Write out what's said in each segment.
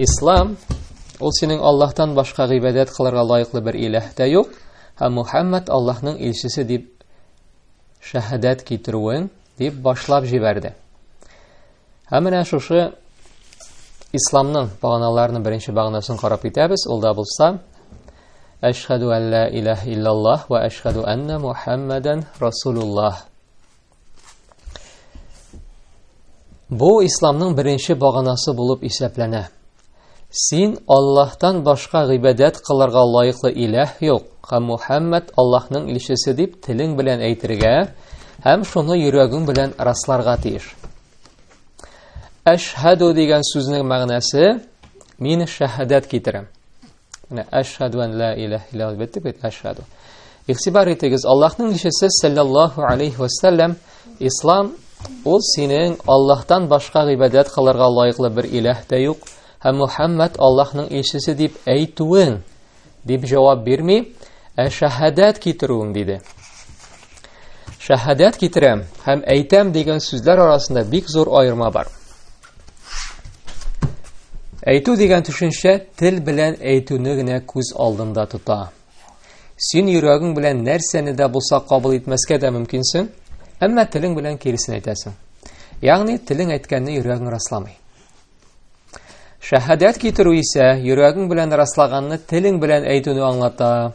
Ислам ул синең Аллаһтан башка гыйбадәт кылырга лаеклы бер иләһ тә юк, һәм Мухаммад Аллаһның илчесе дип шәһадәт китерүен дип башлап җибәрде. Һәм менә шушы исламның баганаларының беренче баганасын карап китәбез. Ул да булса Әшһәду ан ла илаһ иллаллаһ ва әшһәду анна Мухаммадан расулуллаһ. Бу исламның беренче баганасы булып исәпләнә. Син Аллаһтан башка гыйбадәт кылырга лаеклы иләһ юк, һәм Мухаммад Аллаһның илчесе дип телең белән әйтергә һәм шуны йөрәгең белән расларга тиеш. Әшһәду дигән сүзнең мәгънәсе мин шәһадәт китерәм. Менә әшһәду ан ла илаһ илля дип әйттек бит, әшһәду. Игътибар итегез, Аллаһның илчесе саллаллаһу алейхи ва саллям, ислам ул синең Аллаһтан башка гыйбадәт кылырга лаеклы бер илаһ та юк, һәм Мухаммад Аллаһның илчесе дип әйтүең дип җавап бирми, ә шәһадәт китерүең диде. Шәһадәт китерәм һәм әйтәм дигән сүзләр арасында бик зур аерма бар. Әйтү дигән төшенчә тел белән әйтүне генә күз алдында тота. Син йөрәгең белән нәрсәне дә булса кабул итмәскә дә мөмкинсең, әмма телең белән киресен әйтәсең. Ягъни телең әйткәнне йөрәгең расламый. Шәһадәт китерү исә йөрәгең белән раслаганны телең белән әйтүне аңлата.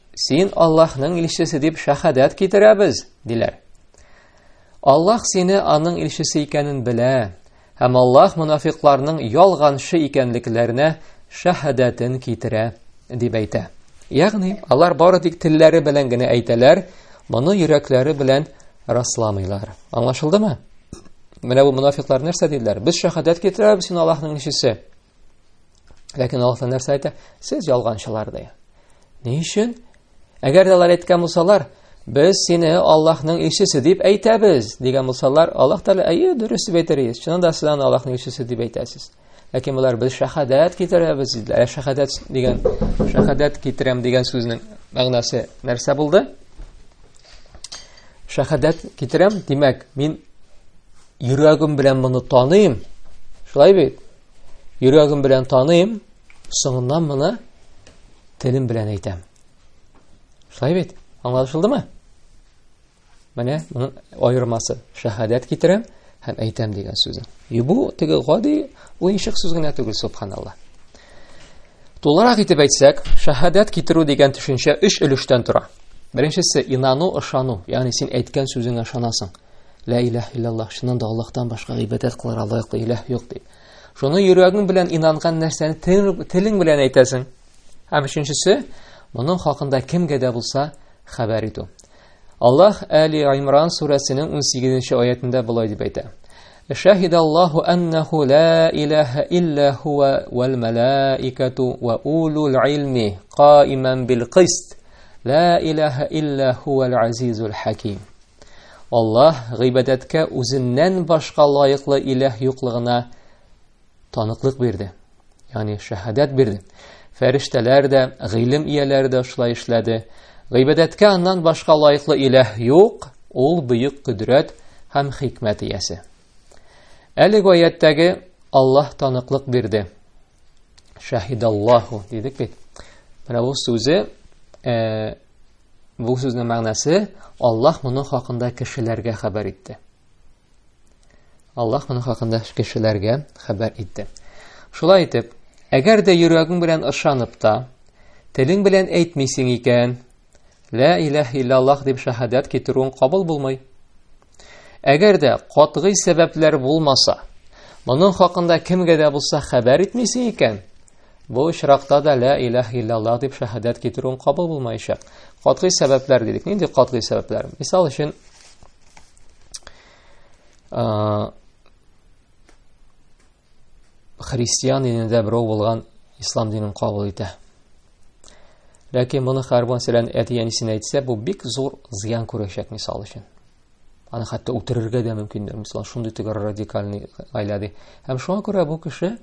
Син Аллаһның илчесе дип шәһадәт китерәбез, диләр. Аллаһ сине аның илчесе икәнен белә, һәм Аллаһ мунафикларның ялганчы икәнлекләренә шәһадәтен китерә, дип әйтә. Ягъни, алар бары тик телләре белән генә әйтәләр, моны йөрәкләре белән расламыйлар. Аңлашылдымы? Менә бу мунафиклар нәрсә диделәр? Без шәһадәт китерәбез, син Аллаһның илчесе. Ләкин Аллаһ Тәгалә нәрсә әйтә? Сез ялганчылар ди. Ни өчен? Әгәр дә алар әйткән булсалар, без сине Аллаһның илчесе дип әйтәбез, дигән булсалар, Аллаһ Тәгалә, әйе, дөрес дип әйтер иде. Чыннан да сез аны Аллаһның илчесе дип әйтәсез. Ләкин болар без шәһадәт китерәбез диделәр. Ә шәһадәт дигән шәһадәт китерәм дигән сүзнең мәгънәсе нәрсә булды? Шәһадәт китерәм, димәк, мин Йөрәгем белән моны таныйм. Шулай бит? Йөрәгем белән таныйм, соңыннан моны телем белән әйтәм. Шулай бит? Аңлашылдымы? Менә моның аермасы. Шәһадәт китерәм һәм әйтәм дигән сүзен. Юбу теге гади уенчык сүз генә түгел, субханалла. Тулырак итеп әйтсәк, шәһадәт китерү дигән төшенчә өч өлештән тора. Беренчесе, инану, ышану, ягъни син әйткән сүзеңә ышанасың. Лә иләһ иллаллаһ, чыннан да Аллаһтан башка гыйбадәт кылырга лаеклы иләһ юк дип. Шуны йөрәгең белән инанган нәрсәне телең белән әйтәсең. Һәм өченчесе, моның хакында кемгә дә булса хәбәр итү. Аллаһ Әли Аймран сүрәсенең 18-нче аятында болай дип әйтә. Шәһидә Аллаһу аннаху ла илаһа илля хуа вал малаикату ва улул илми каиман бил кист. Ла илаһа илля хуал азизул хаким. Аллаһ гыйбадәткә үзеннән башка лаеклы иләһ юклыгына таныклык бирде. Ягъни шәһадәт бирде. Фәрештәләр дә, гыйлем ияләре дә шулай эшләде. Гыйбадәткә аннан башка лаеклы иләһ юк, ул бөек кодрәт һәм хикмәт иясе. Әлеге аяттәге Аллаһ таныклык бирде. Шәһидаллаһу дидек бит. Менә бу сүзе э, Бу сүзнең мәгънәсе Аллаһ моның хакында кешеләргә хәбәр итте. Аллаһ моның хакында кешеләргә хәбәр итте. Шулай итеп, әгәр дә йөрәгең белән ышанып та, телең белән әйтмисең икән, лә иләһ иллаллаһ дип шәһадәт китерүең кабул булмый. Әгәр дә катгый сәбәпләр булмаса, моның хакында кемгә дә булса хәбәр итмисең икән, Бу очракта да лә иләһ иллаллах дип шәһадәт китерүен кабул булмаячак. Катгый сәбәпләр дидек. Нинди катгый сәбәпләр? Мисал өчен, христиан динендә берәү булган ислам динен кабул итә. Ләкин моны хәрбан сәлән әти-әнисенә әйтсә, бу бик зур зыян күрәчәк, мисал өчен. Аны хәтта үтерергә дә мөмкиннәр, мисалан, шундый төгәр радикальный гаилә ди. Һәм шуңа күрә бу кеше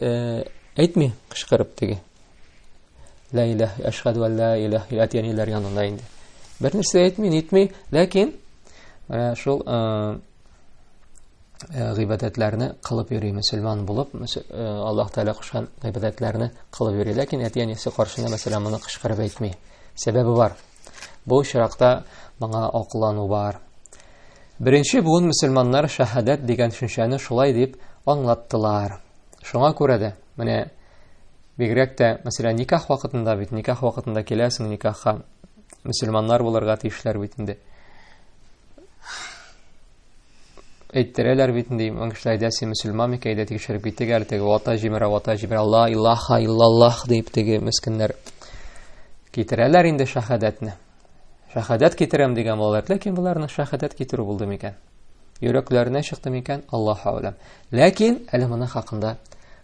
э, әйтми кычкырып теге. Ла иләһ, әшһәду ан ла иләһ, әтиәниләр янында инде. Бер нәрсә әйтми, нитми, ләкин э, шул э, Э, гыйбадәтләрне кылып йөри мөселман булып э, аллаһ тәала кушкан гыйбадәтләрне кылып йөри ләкин әти әнисе каршында мәсәлән моны кычкырып әйтми сәбәбе бар Бу очракта моңа аклану бар. Беренче буын мөселманнар шәһадәт дигән төшенчәне шулай дип аңлаттылар. Шуңа күрә дә, менә бигрәк тә, мәсәлән, никах вакытында бит, никах вакытында киләсең никахка, мөселманнар булырга тиешләр бит инде. әйттерәләр бит инде иман кешеләрдә син мөселман микән әйдә тикшереп китик әле теге вата җимерә вата җимерә ла илаха иллаллах дип теге мескеннәр китерәләр инде шәһадәтне шәһадәт китерәм дигән балалар ләкин боларның шәһадәт китерү булды микән йөрәкләренә чыкты микән аллаһу әләм ләкин әле моның хакында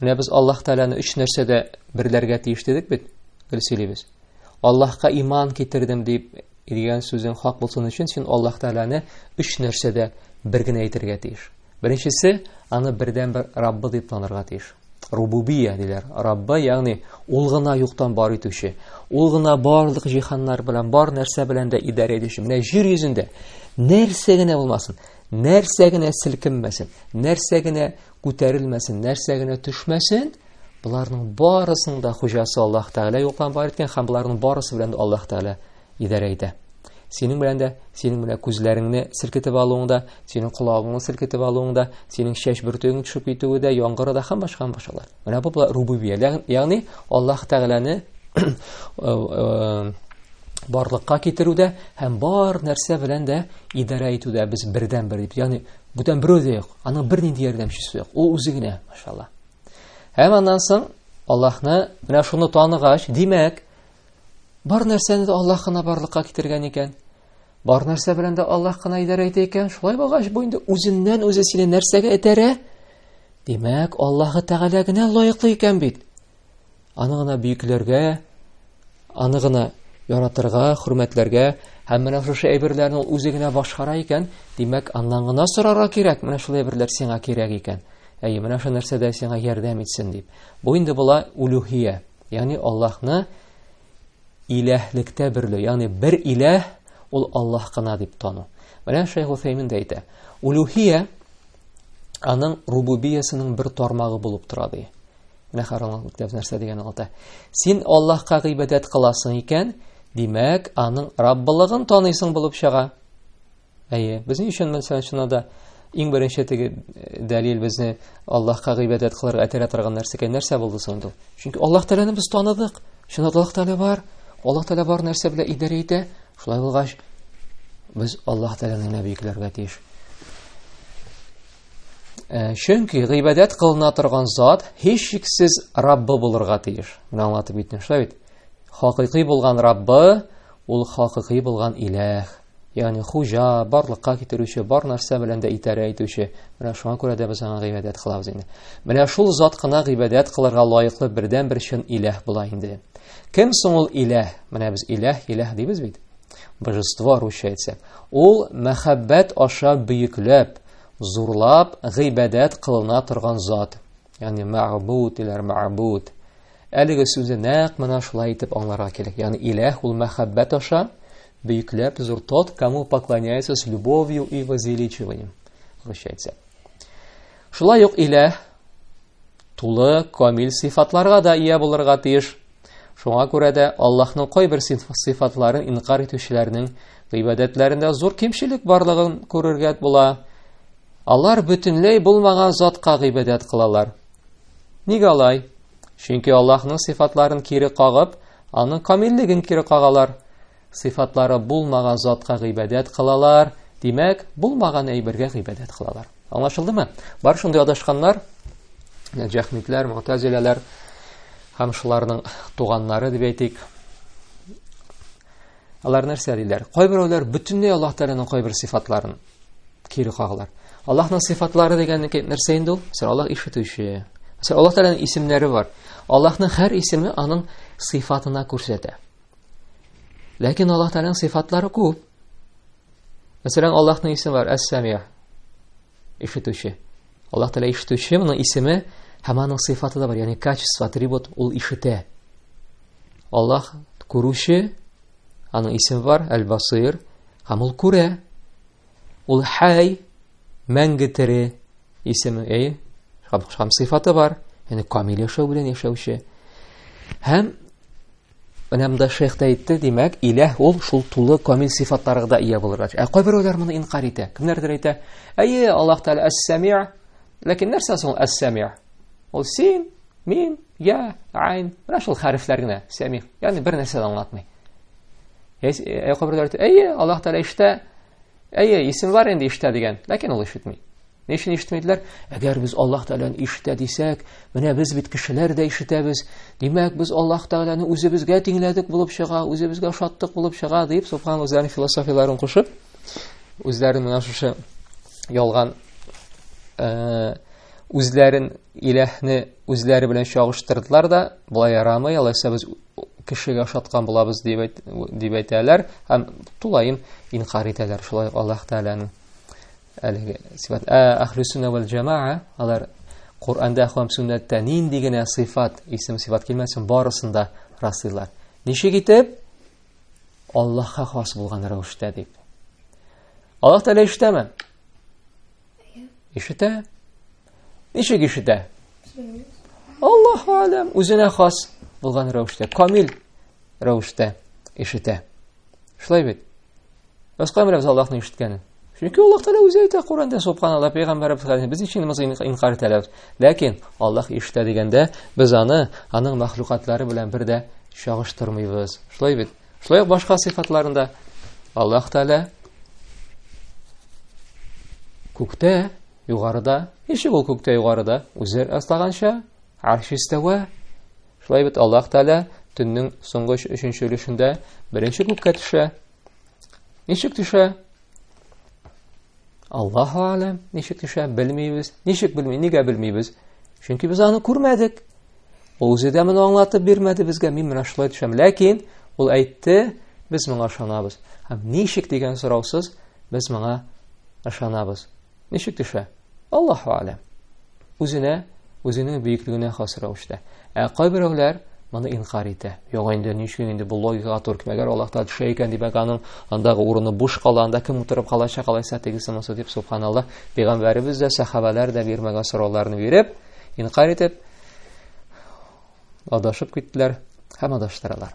Менә без Аллаһ Тәгаләне өч нәрсәдә берләргә тиеш дидек бит, гел сөйлибез. Аллаһка иман китердем дип дигән сүзең хак булсын өчен син Аллаһ Тәгаләне өч нәрсәдә бер генә әйтергә тиеш. Беренчесе, аны бердәнбер Раббы дип танырга тиеш. Рубубия диләр. Раббы, ягъни ул гына юктан бар итүче, ул гына барлык җиһаннар белән, бар нәрсә белән дә идарә итүче. Менә җир йөзендә нәрсә генә булмасын, нәрсә генә селкенмәсен, нәрсә генә күтәрелмәсен, нәрсә генә төшмәсен, боларның барысының да хуҗасы Аллаһ Тәгалә юкка бар иткән һәм боларның барысы белән дә Аллаһ Тәгалә идарә итә. Синең белән дә, синең менә күзләреңне селкетеп алуың да, синең колагыңны селкетеп алуың да, синең чәч бөртегең төшеп китүе дә, яңгыры да һәм башка һәм башкалар. Менә бу була рубубия, ягъни Аллаһ Тәгаләне э, э, барлыкка китерүдә һәм бар нәрсә белән дә идарә итүдә без бердән бер дип, ягъни Бүтән берәү дә юк. Аның бернинди ярдәмчесе юк. Ул үзе генә, машалла. Һәм аннан соң Аллаһны менә шуны таныгач, димәк, бар нәрсәне дә Аллаһ кына барлыкка китергән икән. Бар нәрсә белән дә Аллаһ кына идарә итә икән. Шулай булгач, бу инде үзеннән үзе сине нәрсәгә этәрә? Димәк, Аллаһы Тәгалә генә лаеклы икән бит. Аны гына бөекләргә, аны гына яратырга, хөрмәтләргә, һәм менә шушы әйберләрне ул үзе генә башкара икән, димәк, аннан гына сорарга кирәк, менә шул әйберләр сиңа кирәк икән. Әйе, менә шул нәрсәдә сиңа ярдәм итсен дип. Бу инде була улюхия, ягъни Аллаһны иләһлектә берле, ягъни бер иләһ ул Аллаһ кына дип тану. Менә Шәйх Уфәймин дә әйтә. Улюхия аның рубубиясенең бер тармагы булып тора ди. Менә харамлык мәктәбе нәрсә дигән алта. Син Аллаһка гыйбадәт кыласың икән, димәк, аның Раббылыгын таныйсың булып чыга. Әйе, безнең өчен мәсәлән шуна да иң беренче теге э, дәлил безне Аллаһка гыйбадәт кылырга этәрә торган нәрсә икән. Нәрсә булды соң инде? Чөнки Аллаһ Тәгаләне без таныдык. Шунда Аллаһ Тәгалә бар. Аллаһ Тәгалә бар нәрсә белән идарә итә. Шулай булгач, без Аллаһ Тәгаләне генә биекләргә тиеш. Э, чөнки гыйбадәт кылына торган зат һичшиксез Раббы булырга тиеш. Менә аңлатып киттем, шулай бит. Хакыйкый булган Раббы ул хакыйкый булган Иләх. Ягъни хуҗа, барлыкка китерүче, бар нәрсә белән дә итәрә итүче. Менә шуңа күрә дә без аңа гыйбадәт кылабыз инде. Менә шул зат кына гыйбадәт кылырга лаеклы бердән бер чын Иләх була инде. Кем соң ул Иләх? Менә без Иләх, Иләх дибез бит. Божество русча әйтсәк. Ул мәхәббәт аша бөекләп, Зурлап гыйбадәт кылына торган зат. Ягъни мәгъбуд диләр, мәгъбуд. Әлеге сүзне нәкъ менә шулай итеп аңларга кирәк. Ягъни Иләһ ул мәхәббәт аша бөекләп зур тот, кому поклоняется с любовью и возвеличиванием. Русча әйтсәк. Шулай ук Иләһ тулы камил сыйфатларга да ия булырга тиеш. Шуңа күрә дә Аллаһның кайбер сыйфатларын инкар итүчеләрнең гыйбадәтләрендә зур кимчелек барлыгын күрергә була. Алар бөтенләй булмаган затка гыйбадәт кылалар. Нигә алай? Чөнки Аллаһның сыйфатларын кире кагып, аның камиллеген кире кагалар. Сыйфатлары булмаган затка гыйбадәт кылалар, димәк, булмаган әйбергә гыйбадәт кылалар. Аңлашылдымы? Бар шундый адашканнар, җәхмитләр, мутазиләләр һәм шуларның туганнары дип әйтик. Алар нәрсә диләр? Кайберәүләр бөтенләй Аллаһ Тәгаләнең кайбер сыйфатларын кире кагалар. Аллаһның сыйфатлары дигәнне нәрсә инде ул? Сәр Аллаһ ишетүче. Сәр Аллаһ Тәгаләнең исемнәре бар. Аллаһның һәр исеме аның сыйфатына күрсәтә. Ләкин Аллаһ Тәгаләнең сыйфатлары күп. Мәсәлән, Аллаһның исеме бар, Әс-Сәмия. Ишетүче. Аллаһ Тәгалә ишетүче, моның исеме һәм аның сыйфаты да бар, ягъни качество, атрибут, ул ишетә. Аллаһ күрүче, аның исеме бар, Әл-Басир, һәм ул күрә. Ул хәй, мәңге тере исеме, әй, һәм сыйфаты бар, ягъни камил яшәү белән яшәүче. Һәм Анамда шейх та әйтте, димәк, иләһ ул шул тулы камил сыйфатларга да ия булырга тиеш. Ә кайберәүләр моны инкар итә. Кемнәрдер әйтә, әйе, Аллаһ Тәгалә әс-сәми, ләкин нәрсә соң әс-сәми? Ул син, мин, я, айн, менә шул хәрефләр генә, сәми. Ягъни бер нәрсә дә аңлатмый. Ә кайберәүләр әйтә, әйе, Аллаһ Тәгалә иштә, әйе, исем бар инде иштә дигән, ләкин ул ишетми. Ни өчен ишетмәйделәр? Әгәр без Аллаһ Тәгаләне ишетә дисәк, менә без бит кешеләр дә ишетәбез. Димәк, без Аллаһ Тәгаләне үзебезгә тиңләдек булып чыга, үзебезгә ошаттык булып чыга, дип Субхан үзләренең философияләрен кушып, үзләрен менә шушы ялган э, үзләрен иләһне үзләре белән чагыштырдылар да, болай ярамый, алайса без кешегә ошаткан булабыз дип әйтәләр һәм тулаем инкар итәләр шулай Аллаһ Тәгаләнең әлеге сифат ә әхлү сүннә вәл җәмаа алар Коръәндә һәм сүннәттә нинди генә сыйфат, исем сыйфат килмәсен, барысын да раслыйлар. Ничек итеп? Аллаһка хас булган рәвештә дип. Аллаһ Тәгалә ишетәме? Ишетә. Ничек ишетә? Аллаһу алам, үзенә хас булган рәвештә, камил рәвештә ишетә. Шулай бит. Башка менә без Аллаһны ишеткәне. Чөнки Аллаһ Тәгалә үзе әйтә Коранда, субханалла, пәйгамбәребез хәзер без ничек намаз инкар итәләр. Ләкин Аллаһ ишетә дигәндә, без аны аның мәхлукатлары белән бер дә чагыштырмыйбыз. Шулай бит. Шулай ук башка сыйфатларында Аллаһ Тәгалә күктә Югарыда, ничек ул күктә югарыда? Үзе раслаганча, арш истәвә. Шулай бит Аллаһ Тәгалә төннең соңгы өченче өлешендә беренче күккә төшә. Ничек төшә? Аллаһу алам, ничек төшә, белмибез. Ничек белми, нигә белмибез? Чөнки без аны күрмәдек. Ул үзе дә моны аңлатып бирмәде безгә, мин менә шулай төшәм. Ләкин ул әйтте, без моңа ышанабыз. Һәм ничек дигән сораусыз без моңа ышанабыз. Ничек төшә? Аллаһу алям. Үзенә, үзенең бөеклегенә хас рәвештә. Ә кайберәүләр моны инкар итә. Юк инде, ничек инде бу логикага туры килә. Әгәр Аллаһ Тәгалә төшә икән, димәк, аның андагы урыны буш кала, анда кем утырып калачак, алайса тегесе монысы дип, субханаллаһ, пәйгамбәребез дә, сәхабәләр дә бирмәгән сорауларны биреп, Инкар итеп, адашып киттеләр һәм адаштыралар.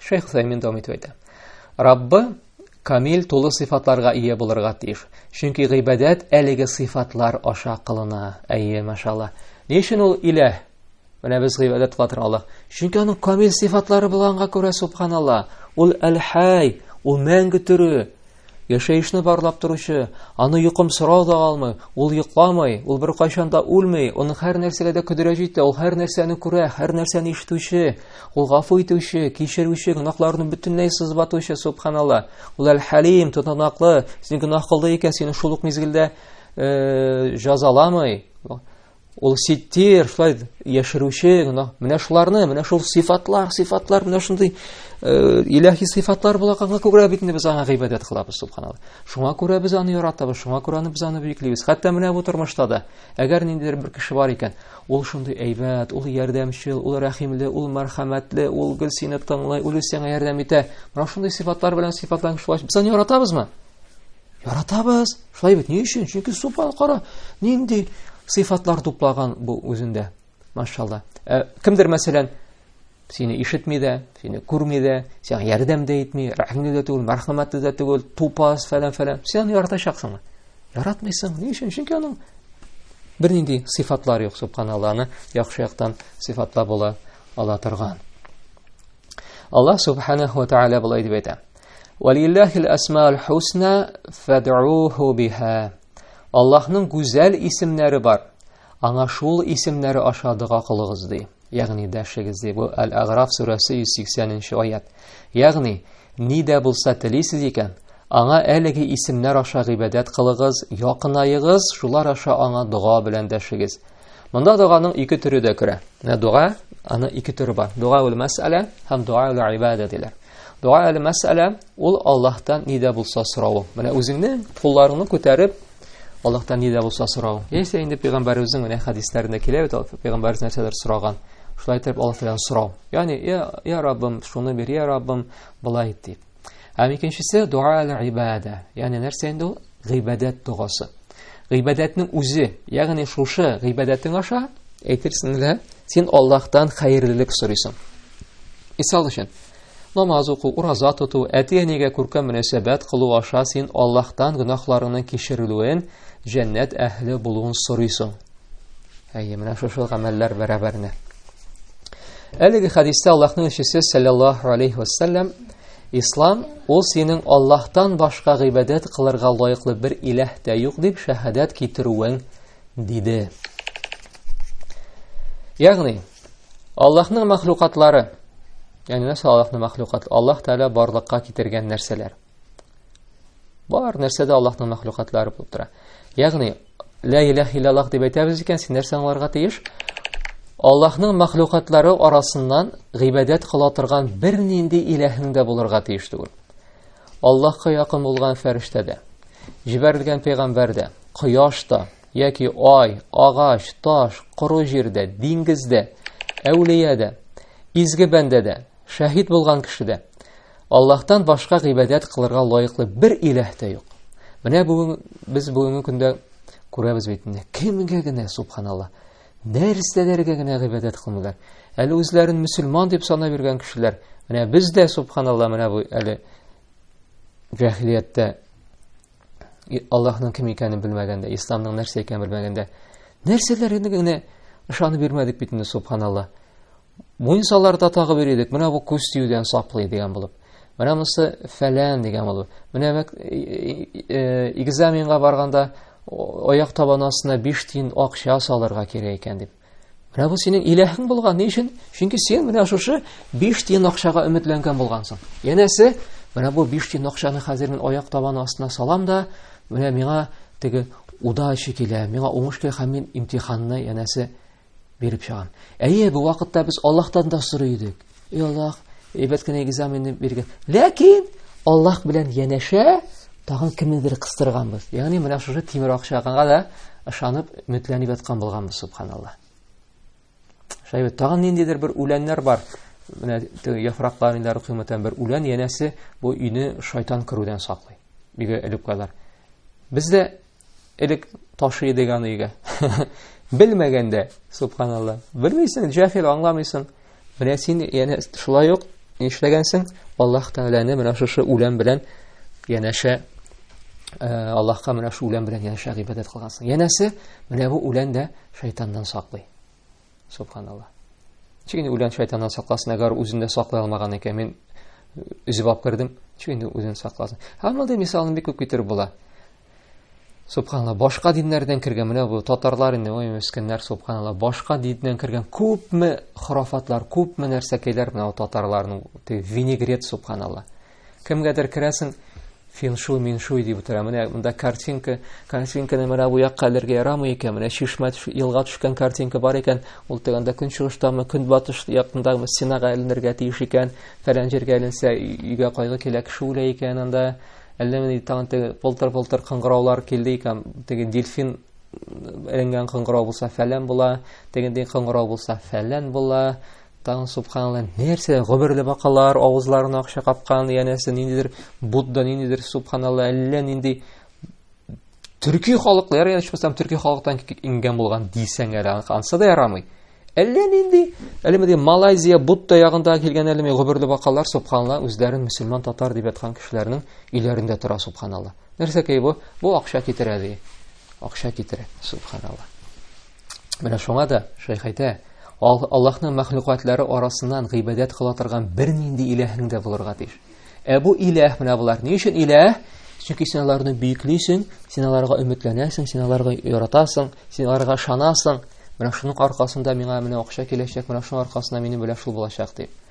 Шейх Саймин дәвам итеп әйтә. Раббы камил тулы сыйфатларга ия булырга тиеш. Чөнки гыйбадәт әлеге сыйфатлар аша кылына. Әйе, машалла. Ни өчен ул илә? Менә без гыйбадәт кылатыр Аллаһ. Чөнки аның камил сыйфатлары булганга күрә субханалла. Ул әл-хай, ул мәңге төре. Яшәешне барлап торучы, аны йокым сорау да алмый, ул йокламый, ул бер кайчан да үлми, ул һәр нәрсәгә дә көдерә җитә, ул һәр нәрсәне күрә, һәр нәрсәне ишетүче, ул гафу итүче, кичерүче, гөнаһларны бөтенләй сызбатучы, субханалла. Ул әл-Халим, тотанаклы, син гөнаһ кылды икән, сине шул ук мизгелдә э, җазаламый. Ул ситтир, шулай яшерүче, менә шуларны, менә шул сыйфатлар, сыйфатлар, менә шундый э, иләһи сыйфатлар булганга күрә бит инде без аңа гыйбадәт кылабыз, субханалла. Шуңа күрә без аны яратабыз, шуңа күрә аны без аны бөеклибез. Хәтта менә бу тормышта да, әгәр ниндидер бер кеше бар икән, ул шундый әйбәт, ул ярдәмчел, ул рәхимле, ул мәрхәмәтле, ул гел сине тыңлый, ул сиңа ярдәм итә. Менә шундый сыйфатлар белән сыйфатланган шулай. Без аны яратабызмы? Яратабыз. Шулай бит. Ни өчен? Чөнки супан кара нинди сыйфатлар туплаган бу үзендә. Машалла. Ә, кемдер мәсәлән сине ишетми дә, сине күрми дә, сиңа ярдәм дә итми, рәхимле дә түгел, мәрхәмәтле дә түгел, тупас фәлән фәлән. Син яратачаксыңмы? Яратмыйсың. Ни өчен? Чөнки аның бернинди сыйфатлар юк, субханалланы яхшы яктан сыйфатла була ала торган. Аллаһ субханаһу ва тааля булай дип әйтә. Валиллахил асмаул хусна фад'уху биха. Аллаһның гүзәл исемнәре бар. Аңа шул исемнәре аша дога кылыгыз ди. Ягъни дәшегез ди. Бу Ал-Аграф сүрәсе 180-нче аят. Ягъни ни дә булса телисез икән, аңа әлеге исемнәр аша гыйбадәт кылыгыз, якынаегыз, шулар аша аңа дога белән дәшегез. Монда доганың ике төре дә керә. Менә дога, аны ике төре бар. Дога ул мәсьәлә һәм дога ул ибадә диләр. Дуа әле мәсьәлә, ул Аллаһтан ни дә булса сорау. Менә үзеңне, кулларыңны күтәреп, Аллаһтан ни дә булса сорау. Яисә инде пәйгамбәребезнең менә хәдисләрендә килә бит, пәйгамбәребез нәрсәдер сораган. Шулай итеп Аллаһ Тәгаләдән сорау. Ягъни, я, я Раббым, шуны бир, я Раббым, былай ит дип. Һәм икенчесе дуа әле ибада. Ягъни нәрсә инде ул? Гыйбадәт догасы. Гыйбадәтнең үзе, ягъни шушы гыйбадәтең аша әйтерсең лә, син Аллаһтан хәерлелек сорыйсың. Мисал өчен, намаз уку, ураза тоту, әти-әнигә күркәм мөнәсәбәт кылу аша син Аллаһтан гөнаһларыңның кичерелүен, җәннәт әһле булуын сорыйсың. Әйе, менә шушы гамәлләр бәрабәренә. Әлеге хәдистә Аллаһның илчесе саллаллаһу алейхи вассалам Ислам ул синең Аллаһтан башка гыйбадәт кылырга лаеклы бер иләһ тә юк дип шәһадәт китерүең диде. Ягъни Аллаһның мәхлукатлары, ягъни нәрсә Аллаһның мәхлукат? Аллаһ Тәгалә барлыкка китергән нәрсәләр. Бар нәрсә дә Аллаһның мәхлукатлары булып тора. Ягъни Лә иләһ иллаллах дип әйтәбез икән, син нәрсә аңларга тиеш? Аллаһның мәхлукатлары арасыннан гыйбадәт кыла торган бернинди иләһең дә булырга тиеш түгел. Аллаһка якын булган фәрештә дә, җибәрелгән пәйгамбәр дә, кояш та, яки ай, агач, таш, коры җирдә, диңгездә, әүлия дә, изге бәндә дә, Шәһид булган кешедә Аллаһтан башка гыйбадәт кылырга лаеклы бер иләһ тә юк. Менә бүген без бүгенге көндә күрәбез бит инде. Кемгә генә, субханалла, нәрсәләргә генә гыйбадәт кылмыйлар. Әле үзләрен мөселман дип санап йөргән кешеләр, менә без дә, субханалла, менә бу әле җәһилияттә Аллаһның кем икәнен белмәгәндә, исламның нәрсә икәнен белмәгәндә, нәрсәләргә генә ышанып йөрмәдек бит инде, субханалла. Муенсаларда тагы бер идек, менә бу күз тиюдән саклый дигән булып. Менә монысы фәлән дигән булып. Менә мәк, экзаменга барганда аяк табаны астына 5 тиен акча салырга кирәк икән дип. Менә бу синең иләһең булган. Ни өчен? Чөнки син менә шушы 5 тиен акчага өметләнгән булгансың. Янәсе, менә бу 5 тиен акчаны хәзер мин аяк табаны астына салам да, менә миңа теге удача килә, миңа уңыш килә һәм мин имтиханны янәсе биреп чыгам. Әйе, бу вакытта без Аллаһтан да сорый идек. И Аллаһ, әйбәт кенә экзаменны биргән. Ләкин Аллаһ белән янәшә тагын кемнедер кыстырганбыз. Ягъни менә шушы тимер акчага да ышанып, өметләнеп яткан булганбыз, субханаллаһ. Шәйбе тагын ниндидер бер үләннәр бар. Менә яфраклар инде рухимәтән бер үлән янәсе бу өйне шайтан күрүдән саклый. Бигә элеп калар. Без дә элек ташый идек аны өйгә белмәгәндә субханалла белмисең җәһил аңламыйсың менә син яне шулай ук нишләгәнсең аллаһ тәгаләне менә шушы үлән белән янәшә э, аллаһка менә шул үлән белән янәшә гыйбадәт кылгансың янәсе менә бу үлән дә шайтаннан саклый Субханалла. Чөнки инде үлән шайтаннан сакласын, әгәр үзен дә саклый алмаган икән, мин үзеп алып кердем, чөнки инде үзен сакласын. Һәм мондый мисалны бик күп китереп була. Субханалла, башка диннәрдән кергән менә бу татарлар инде, ой, мескеннәр, субханалла, башка диннән кергән күпме хорафатлар, күпме нәрсәкәйләр менә татарларның, винегрет, субханалла. Кемгәдер керәсең, финшуй, миншуй дип утыра. Менә монда картинка, картинканы менә бу якка элергә ярамый икән. Менә чишмә, елга төшкән картинка бар икән. Ул тегендә көнчыгыштамы, көнбатыш яктындагы стенага эленергә тиеш икән. Фәлән җиргә эленсә, өйгә кайгы килә, кеше үлә икән анда. Әллә менә тагын теге полтыр-полтыр кыңгыраулар килде икән. Теге дельфин эленгән кыңгырау булса, фәлән була. Тегендәй кыңгырау булса, фәлән була. Тагын субханалла, нәрсә, гомерле бакалар, авызларына акча капкан, янәсе ниндидер Будда, ниндидер субханалла, әллә нинди төрки халыклы, ярый ичмасам төрки халыктан ингән булган дисәң әле, ансы да ярамый. Әллә нинди, әле менә Малайзия, Будда ягында килгән әле менә гомерле бакалар, субханалла, үзләрен мусульман татар дип яткан кешеләрнең өйләрендә тора субханалла. Нәрсәкәй бу? Бу акча китерә ди. Акча китерә, субханалла. Менә шуңа да шәйх әйтә, Аллаһның мәхлукатлары арасыннан гыйбадәт кыла торган бернинди иләһең дә булырга тиеш. Ә бу иләһ менә булар. Ни өчен иләһ? Чөнки син аларны бөеклисең, син аларга өметләнәсең, син аларга яратасың, син аларга ышанасың. Менә шуның аркасында миңа менә акча киләчәк, менә шуның аркасында минем белән шул булачак дип.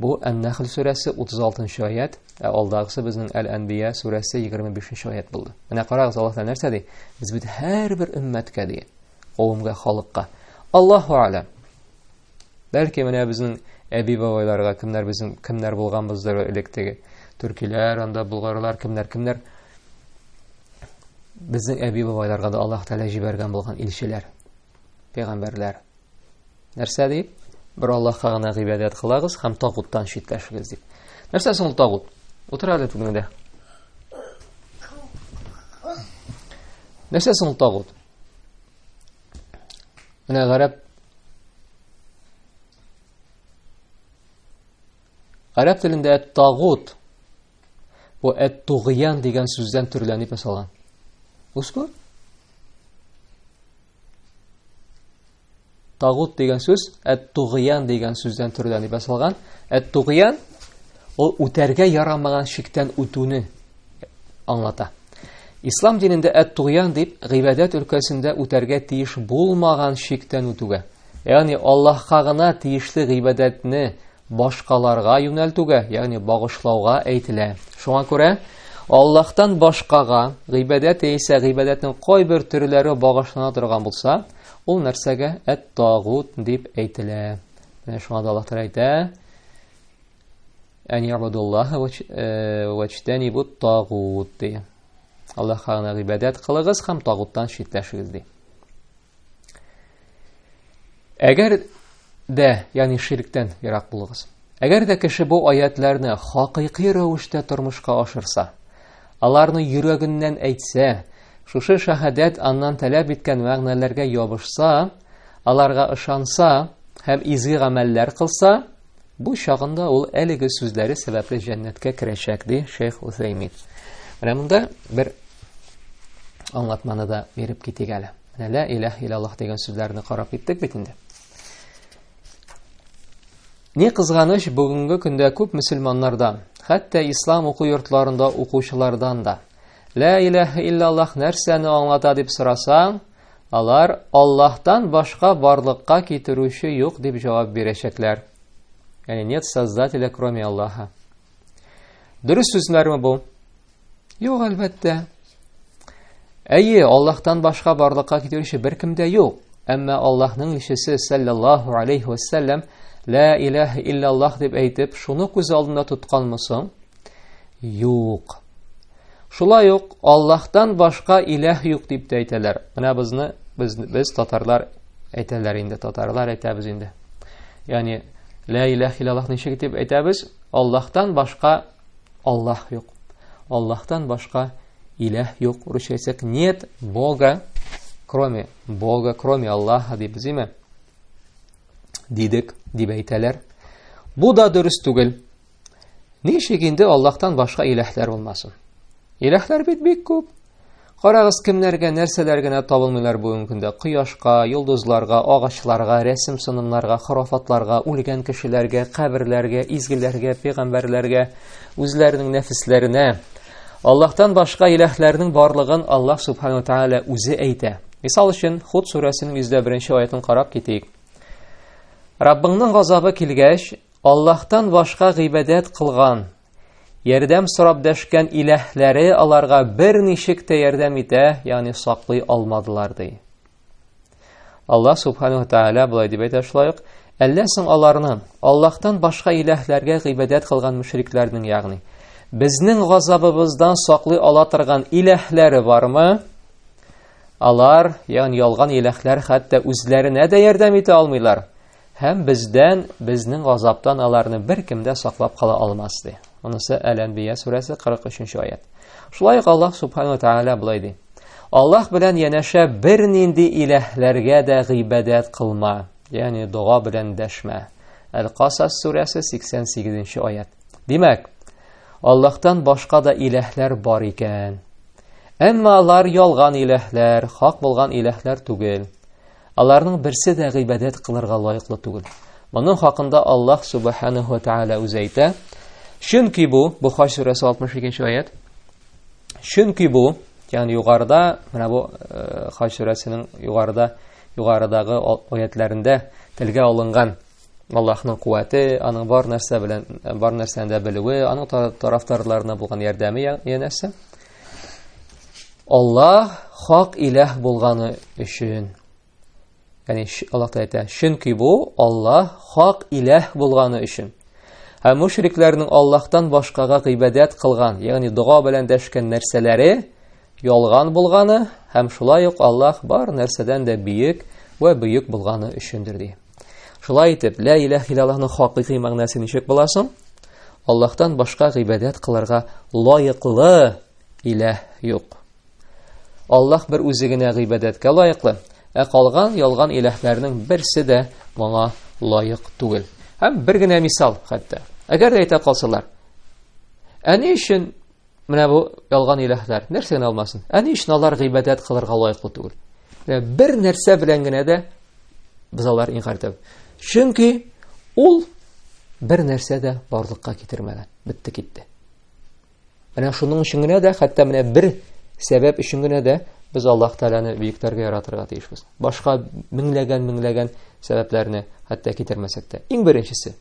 Бу Ән-Нәхл сүрәсе 36 аят, ә алдагысы безнең Әл-Әнбия сүрәсе 25 аят булды. Менә карагыз, Аллаһ Тәгалә нәрсә ди? Без бит һәрбер өммәткә ди, кавымга, халыкка. Аллаһу алям. Бәлки менә безнең әби бабайларга кемнәр безнең кемнәр булганбыздыр элек теге төркиләр, анда булгарлар, кемнәр кемнәр безнең әби бабайларга да Аллаһ Тәгалә җибәргән булган илчеләр. пәйгамбәрләр нәрсә ди бер аллаһка гына гыйбадәт кылагыз һәм тагуттан читләшегез дип нәрсә соң ул тагут утыр әле түбеңдә нәрсә соң ул тагут менә гарәп гарәп телендә тагут Бу әт-тугыян дигән сүздән төрләнеп ясалган. Ускур? Тагут дигән сүз әт-тугыян дигән сүздән төрләнеп ясалган. Әт-тугыян ул үтәргә ярамаган шиктән үтүне аңлата. Ислам динендә әт-тугыян дип гыйбадәт өлкәсендә үтәргә тиеш булмаган шиктән үтүгә, ягъни Аллаһка гына тиешле гыйбадәтне башкаларга юнәлтүгә, ягъни багышлауга әйтелә. Шуңа күрә Аллаһтан башкага гыйбадәт яисә гыйбадәтнең кайбер төрләре багышлана торган булса, ул нәрсәгә әт-тагут дип әйтелә. Менә шуңа да Аллаһ Тәгалә әйтә: "Ән ябудуллаһа вачтанибут э, тагут" ди. Аллаһка гына гыйбадәт кылыгыз һәм тагуттан читләшегез ди. Әгәр дә, ягъни ширктән ерак булыгыз. Әгәр дә кеше бу аятларны хакыйкый рәвештә тормышка ашырса, аларны йөрәгеннән әйтсә, шушы шәһадәт аннан таләп иткән мәгънәләргә ябышса, аларга ышанса һәм изге гамәлләр кылса, Бу чагында ул әлеге сүзләре сәбәпле җәннәткә керәчәк, ди шейх Усәймин. Менә монда бер аңлатманы да биреп китик әле. Менә лә иләһ илаллаһ дигән сүзләрне карап киттек бит инде. Ни кызганыч, бүгенге көндә күп мөселманнардан, хәтта ислам уку йортларында укучылардан да, Лә иләһә иллаллах нәрсәне аңлата дип сорасаң, Алар Аллаһтан башка барлыкка китерүче юк дип җавап бирәчәкләр. Яни нет создателя кроме Аллаһа. Дөрес сүзләрме бу? Юк, әлбәттә. Әйе, Аллаһтан башка барлыкка китерүче беркем дә юк. Әмма Аллаһның илчесе саллаллаһу алейхи ва саллям ла илаһа иллаллаһ дип әйтеп, шуны күз алдында тотканмы соң? Юк. Шулай ук Аллаһтан башка иләһ юк дип тә әйтәләр. Менә безне без без татарлар әйтәләр инде, татарлар әйтәбез инде. Ягъни ла иләһ иллаллаһ ничек дип әйтәбез? Аллаһтан башка Аллаһ юк. Аллаһтан башка иләһ юк. Русча әйтсәк, нет Бога, кроме Бога, кроме Аллаһа дип зиме? Дидек, дип әйтәләр. Бу да дөрес түгел. Ничек инде Аллаһтан башка иләһләр булмасын? Иләһләр бит бик күп. Карагыз, кемнәргә, нәрсәләр генә табылмыйлар бүгенге көндә. Кояшка, йолдызларга, агачларга, рәсем сынымнарга, хорафатларга, үлгән кешеләргә, каберләргә, изгеләргә, пәйгамбәрләргә, үзләренең нәфесләренә. Аллаһтан башка иләһләрнең барлыгын Аллаһ Субхану Тааля үзе әйтә. Мисал өчен, Худ сүрәсенең 101 нче аятын карап китик. Раббыңның газабы килгәч, Аллаһтан башка гыйбадәт кылган, ярдәм сорап дәшкән иләһләре аларга берничек тә ярдәм итә, ягъни саклый алмадылар ди. Аллаһ субханаһу тааля болай дип әйтә шулай ук, әллә соң аларны, Аллаһтан башка иләһләргә гыйбадәт кылган мөшрикләрнең, ягъни безнең газабыбыздан саклый ала торган иләһләре бармы? Алар, ягъни ялган иләһләр хәтта үзләренә дә ярдәм итә алмыйлар. Һәм бездән, безнең газаптан аларны беркем дә саклап кала алмас, ди. Монысы Әл-Әнбия сүрәсе 43-нче аят. Шулай ук Аллаһ Субхану ва Тааля булай ди. Аллаһ белән янәшә бернинди иләһләргә дә гыйбадәт кылма, ягъни дога белән дәшмә. Әл-Касас сүрәсе 88-нче аят. Димәк, Аллаһтан башка да иләһләр бар икән. Әмма алар ялган иләһләр, хак булган иләһләр түгел. Аларның берсе дә гыйбадәт кылырга лаеклы түгел. Моның хакында Аллаһ субханаһу ва тааля үзе әйтә. Чөнки бу, Бухар сүрәсе 62-нче аят. Чөнки бу, ягъни югарыда, менә бу э, Хаҗ сүрәсенең югарыда, югарыдагы аятларында телгә алынган Аллаһның куәте, аның бар нәрсә белән, бар нәрсәне дә белүе, аның тарафдарларына булган ярдәме янәсе. Аллаһ хак иләһ булганы өчен. Яни Аллаһ та әйтә, чөнки бу Аллаһ хак иләһ булганы өчен. Ә мушрикләрнең Аллаһтан башкага гыйбадәт кылган, ягъни дога белән дәшкән нәрсәләре ялган булганы һәм шулай ук Аллаһ бар нәрсәдән дә биек ва бөек булганы өчендер ди. Шулай итеп, лә иләһ илаллаһның хакыйкый мәгънәсе ничек була соң? Аллаһтан башка гыйбадәт кылырга лаеклы иләһ юк. Аллаһ бер үзе генә гыйбадәткә лаеклы, ә калган ялган иләһләрнең берсе дә моңа лаек түгел. Һәм бер генә мисал хәтта. Әгәр дә әйтә калсалар, әни өчен Менә бу ялган иләһләр нәрсә генә алмасын. Ә ни өчен алар гыйбадәт кылырга лаеклы түгел? Менә бер нәрсә белән генә дә без алар инкар итәбез. Чөнки ул бер нәрсә дә барлыкка китермәгән. Битте китте. Менә шуның өчен генә дә, хәтта менә бер сәбәп өчен генә дә без Аллаһ Тәгаләне биектәргә яратырга тиешбез. Башка меңләгән-меңләгән сәбәпләрне хәтта китермәсәк тә. Иң беренчесе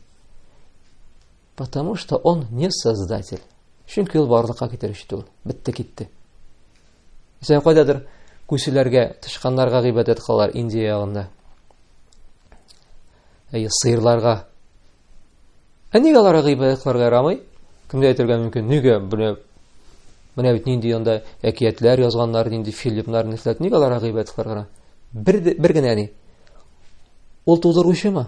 Потому что он не создатель. Чөнки ул барлыкка китерүче түгел. Бетте китте. Сән кайдадыр күселәргә, тышканнарга гыйбадәт кылалар Индия ягында. Әйе, сыерларга. Ә нигә аларга гыйбадәт кылырга ярамый? Кемгә әйтергә мөмкин? Нигә менә менә бит нинди анда әкиятләр язганнар, нинди фильмнар, нихләт, нигә аларга гыйбадәт кылырга? Бер бер генә ни. Ул тудыручымы?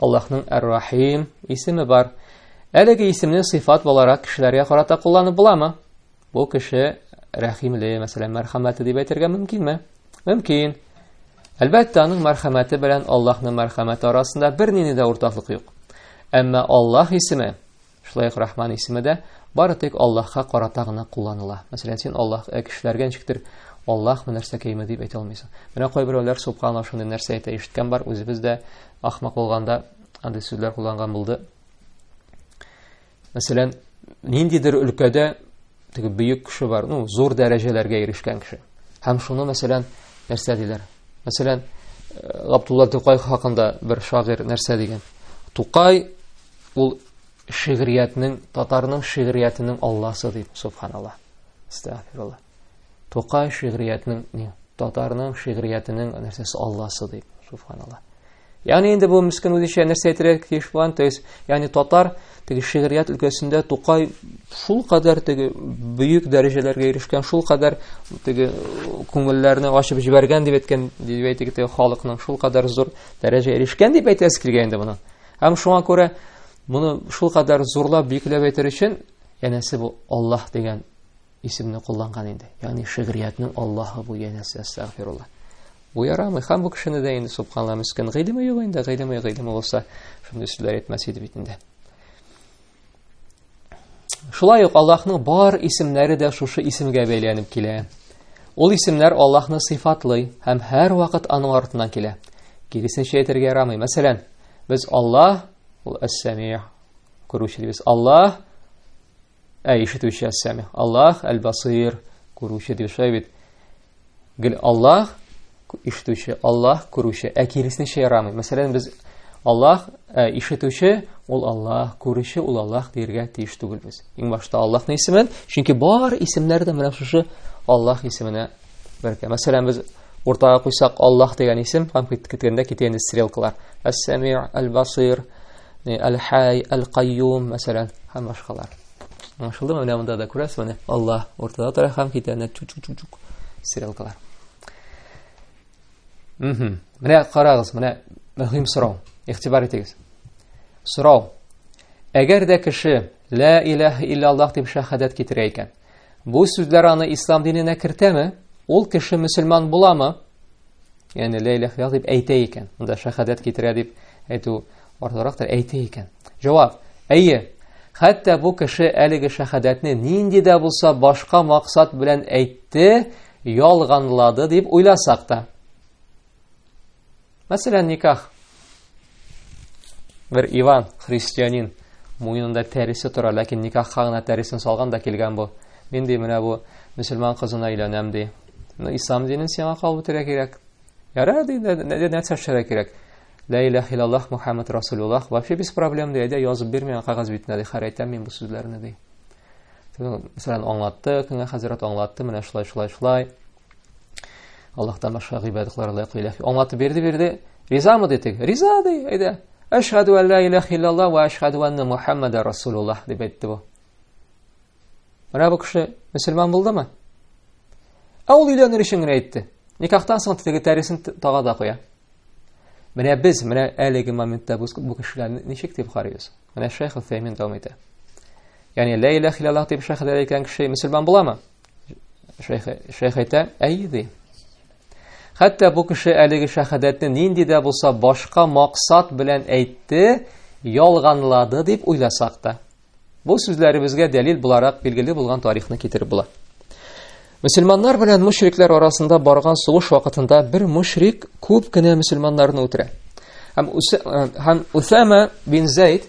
Аллаһның Әр-Рахим исеме бар. Әлеге исемне сыйфат буларак кешеләргә карата кулланып буламы? Бу кеше рәхимле, мәсәлән, мәрхәмәтле дип әйтергә мөмкинме? Мөмкин. Әлбәттә, аның мәрхәмәте белән Аллаһның мәрхәмәте арасында бернинди дә уртаклык юк. Әмма Аллаһ исеме Шулай ук Рахман исеме дә бары тик Аллаһка карата гына кулланыла. Мәсәлән, син Аллаһ ә кешеләргә ничектер Аллаһ нәрсә кәйме дип әйтә алмыйсың. Менә кайберәүләр субханаллаһ шундый нәрсә әйтә ишеткән бар, үзебез дә ахмак булганда андый сүзләр кулланган булды. Мәсәлән, ниндидер өлкәдә теге бөек кеше бар, ну, зур дәрәҗәләргә ирешкән кеше. Һәм шуны, мәсәлән, нәрсә диләр? Мәсәлән, э, Габдулла Тукай хакында бер шагыйрь нәрсә дигән? Тукай ул шигъриятнең татарның шигъриятенең алласы дип субханалла астагфирулла тукай шигъриятнең не татарның шигъриятенең нәрсәсе алласы дип субханалла ягъни инде бу мескин үзенчә нәрсә әйтергә тиеш булган то есть ягъни татар теге шигърият өлкәсендә тукай шул кадәр теге бөек дәрәҗәләргә ирешкән шул кадәр теге күңелләрне ачып җибәргән дип әйткән дип әйтик теге халыкның шул кадәр зур дәрәҗәгә ирешкән дип әйтәсе килгән инде моны Һәм шуңа күрә моны шул кадәр зурлап биекләп әйтер өчен, янәсе бу Аллаһ дигән исемне кулланган инде. Ягъни шигъриятнең Аллаһы бу янәсе астагфирулла. Бу ярамый. Һәм бу кешене дә инде субханалла мискин гыйлеме юк инде, гыйлеме гыйлеме булса, шундый сүзләр әйтмәс иде бит инде. Шулай ук Аллаһның бар исемнәре дә шушы исемгә бәйләнеп килә. Ул исемнәр Аллаһны сыйфатлый һәм һәр вакыт аның артыннан килә. Киресенчә әйтергә ярамый. Мәсәлән, без Аллаһ, ул Әс-Сәмиъ, күрүче дибез. Аллаһ, ә ишетүче Әс-Сәмиъ. Аллаһ Әл-Басир, күрүче дибез. Шулай бит. Гел Аллаһ ишетүче, Аллаһ күрүче, ә киресенчә ярамый. Мәсәлән, без Аллаһ ә, ишетүче, ул Аллаһ, күрүче, ул Аллаһ диергә тиеш түгелбез. Иң башта Аллаһны исемен, чөнки бар исемнәр дә менә шушы Аллаһ исеменә бергә. Мәсәлән, без уртага куйсак Аллаһ дигән исем, һәм киткәндә китә инде стрелкалар. Әс-Сәми, Әл-Басир, Әл-Хай, Әл-Кайюм, мәсәлән, һәм башкалар. Аңлашылды менә монда да күрәсез, менә Алла ортада тора һәм китә менә чу чу чу стрелкалар. Мм. Менә карагыз, менә мөһим сорау. Игътибар итегез. Сорау. Әгәр дә кеше ла илаһ илля Аллаһ дип шахадат китерә икән, бу сүзләр аны ислам диненә кертәме? Ул кеше мусульман буламы? Яни лә иләһ иллаллаһ дип әйтә икән. Монда шәһадәт китерә дип әйтү артырактыр, әйтә икән. Җавап: Әйе. Хәтта бу кеше әлеге шәһадәтне нинди дә булса башка максат белән әйтте, ялганлады дип уйласак та. Мәсәлән, никах. Бер Иван, христианин, муенында тәресе тора, ләкин никахка гына тәресен салган да килгән бу. Мин ди менә бу мөселман кызына өйләнәм ди. Ну, ислам динен сиңа кабул итәргә кирәк. Яра ди, нәрсә эшләргә кирәк? Лә илаһ иллаллаһ Мухаммад Расулуллаһ. Вообще без проблем ди, әйдә язып бир миңа кагаз битенә ди, хәр әйтәм мин бу сүзләрне ди. Мәсәлән, аңлатты, көнгә хәзрәт аңлатты, менә шулай, шулай, шулай. Аллаһтан башка гыйбадатлар лайык иләһ. Аңлатып бирде бирде. Ризамы дитек? Риза ди, әйдә. Әшһаду ан ла илаһ иллалла ва әшһаду анна Мухаммада Расулуллаһ дип әйтте бу. Менә бу кеше мусульман булдымы? Ә ул өйләнер өчен генә әйтте. Никахтан соң теге тәресен тага да куя. Менә без, менә әлеге моментта бу кешеләрне ничек дип карыйбыз? Менә Шейх Утәймин дәвам итә. Ягъни ла илаһ иллаллаһ дип шәһәдә әйткән кеше мусульман буламы? Шәйх әйтә, әй ди. Хәтта бу кеше әлеге шәһадәтне нинди дә булса башка максат белән әйтте, ялганлады дип уйласак та. Бу сүзләребезгә дәлил буларак билгеле булган тарихны китереп була. Мөселманнар белән мушриклар арасында барган сугыш вакытында бер мушрик күп кенә мөселманнарны үтерә. Һәм Усама бин Зәйд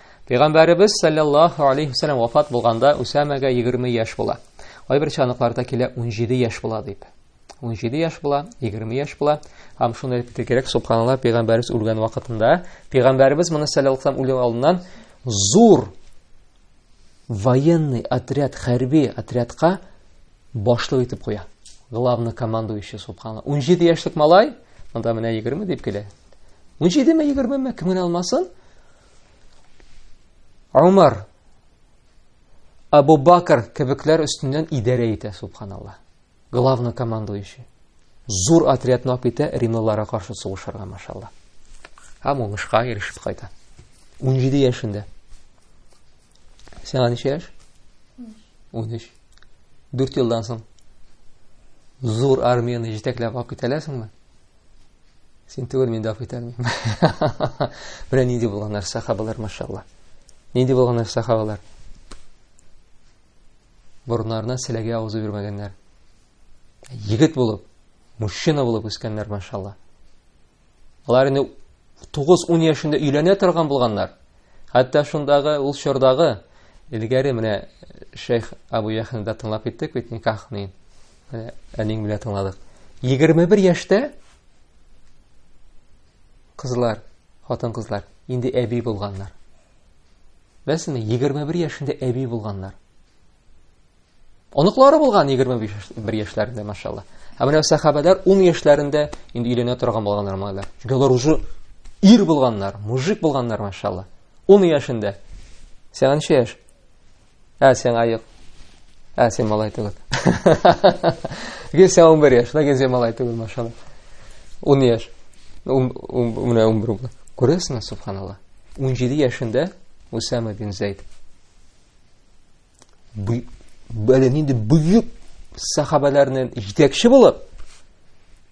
Пәйгамбәребез саллаллаху алейхи вәсәлләм вафат булганда Усамәгә 20 яшь була. Кайбер чаныкларда килә 17 яшь була дип. 17 яшь була, 20 яшь була. Һәм шуны әйтеп китә кирәк, субханаллаһ, пәйгамбәребез үлгән вакытында, пәйгамбәребез моны саллаллаху алейхи вәсәлләм үлгән алдыннан зур военный отряд, хәрби отрядка башлык итеп куя. Главный командующий субханаллаһ. 17 яшьлек малай, монда менә 20 дип килә. 17 ме 20 ме кемгә алмасын? Умар, Абу Бакр кебекләр өстеннән идарә итә, субханалла. Главный командующий. Зур отрядны алып китә римлыларга каршы сугышырга, машалла. Һәм уңышка ирешеп кайта. 17 яшендә. Сиңа ничә яшь? 13. 4 елдан соң зур армияне җитәкләп алып китәләсеңме? Син түгел, мин даф итәр мин. Менә нинди булганнар сахабалар, машалла. Нинди булганнар сахабалар? Борыннарына селәгә авызы бирмәгәннәр. Егет булып, мужчина булып үскәннәр, машалла. Алар инде 9-10 яшендә өйләнә торган булганнар. Хәтта шундагы ул чордагы элгәре менә Шейх Абу Яхнда тыңлап киттек бит никахны. Менә әниң белән тыңладык. 21 яшьтә кызлар, хатын-кызлар инде әби булганнар. Бәсме 21 яшендә әби булганнар. Оныклары булган 21 яшьләрендә, машалла. Ә менә сахабәләр 10 яшьләрендә инде өйләнә торган булганнар малайлар. Чөнки алар уже ир булганнар, мужик булганнар, машалла. 10 яшендә. Сәгән яшь. Ә сен айык. Ә сен малай түгел. Гесе 11 яш, да гесе малай түгел, машалла. 10 яш. Ум ум менә 11 булды. Күрәсезме, субханалла. 17 яшендә Усама бин Зейд. Бу бәле нинди бөек сахабаларның җитәкче булып,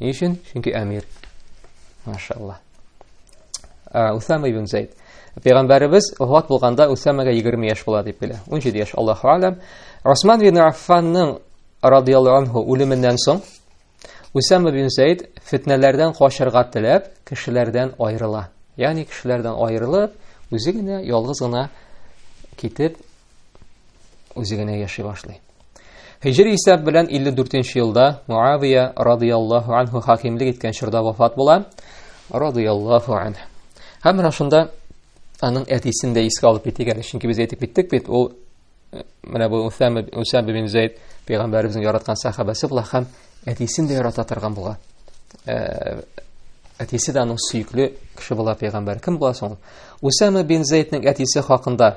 Ни өчен? Чөнки әмир. Машалла. Усама ибн Зейд. Пәйгамбәребез вафат булганда Усамага 20 яшь була дип белә. 17 яшь, Аллаһу алям. Усман ибн Аффанның радияллаһу анһу үлеменнән соң Усама ибн Зейд фитнәләрдән качарга теләп, кешеләрдән аерыла. Ягъни кешеләрдән аерылып, үзе генә ялгыз гына китеп үзе генә яши башлый. Хиҗри исәп белән 54 елда Муавия радияллаһу анху хакимлек иткән чорда вафат була. Радияллаһу анху. Һәм менә шунда аның әтисен дә искә алып китик әле, чөнки без әйтеп киттек бит, ул э, менә бу Усама Усама бин Зайд пәйгамбәребезнең яраткан сахабасы була һәм әтисен дә ярата торган була. Э, әтисе дә аның сөекле кеше була пәйгамбәр. Кем була соң? Усама бин Зайдның әтисе хакында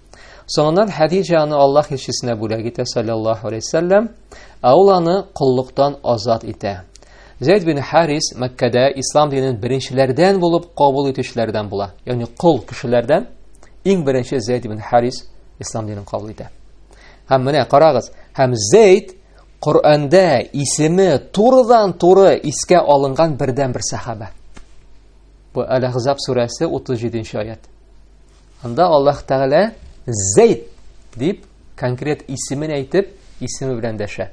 Соңыннан Хәдиҗә аны Аллаһ илчесенә бүләк итә, саллаллаһу алейһи вәсәлләм, ә ул аны коллыктан азат итә. Зәйд бин Харис Мәккәдә ислам динен беренчеләрдән булып кабул итүчеләрдән була. Ягъни кол кешеләрдән иң беренче Зәйд бин Харис ислам динен кабул итә. Һәм менә карагыз, һәм Зәйд Коръәндә исеме турыдан туры искә алынган бердән бер сахаба. Бу Әл-Ахзаб сүрәсе 37 нче аят. Анда Аллаһ Тәгалә Зәйд дип конкрет исемен әйтеп, исеме белән дәшә.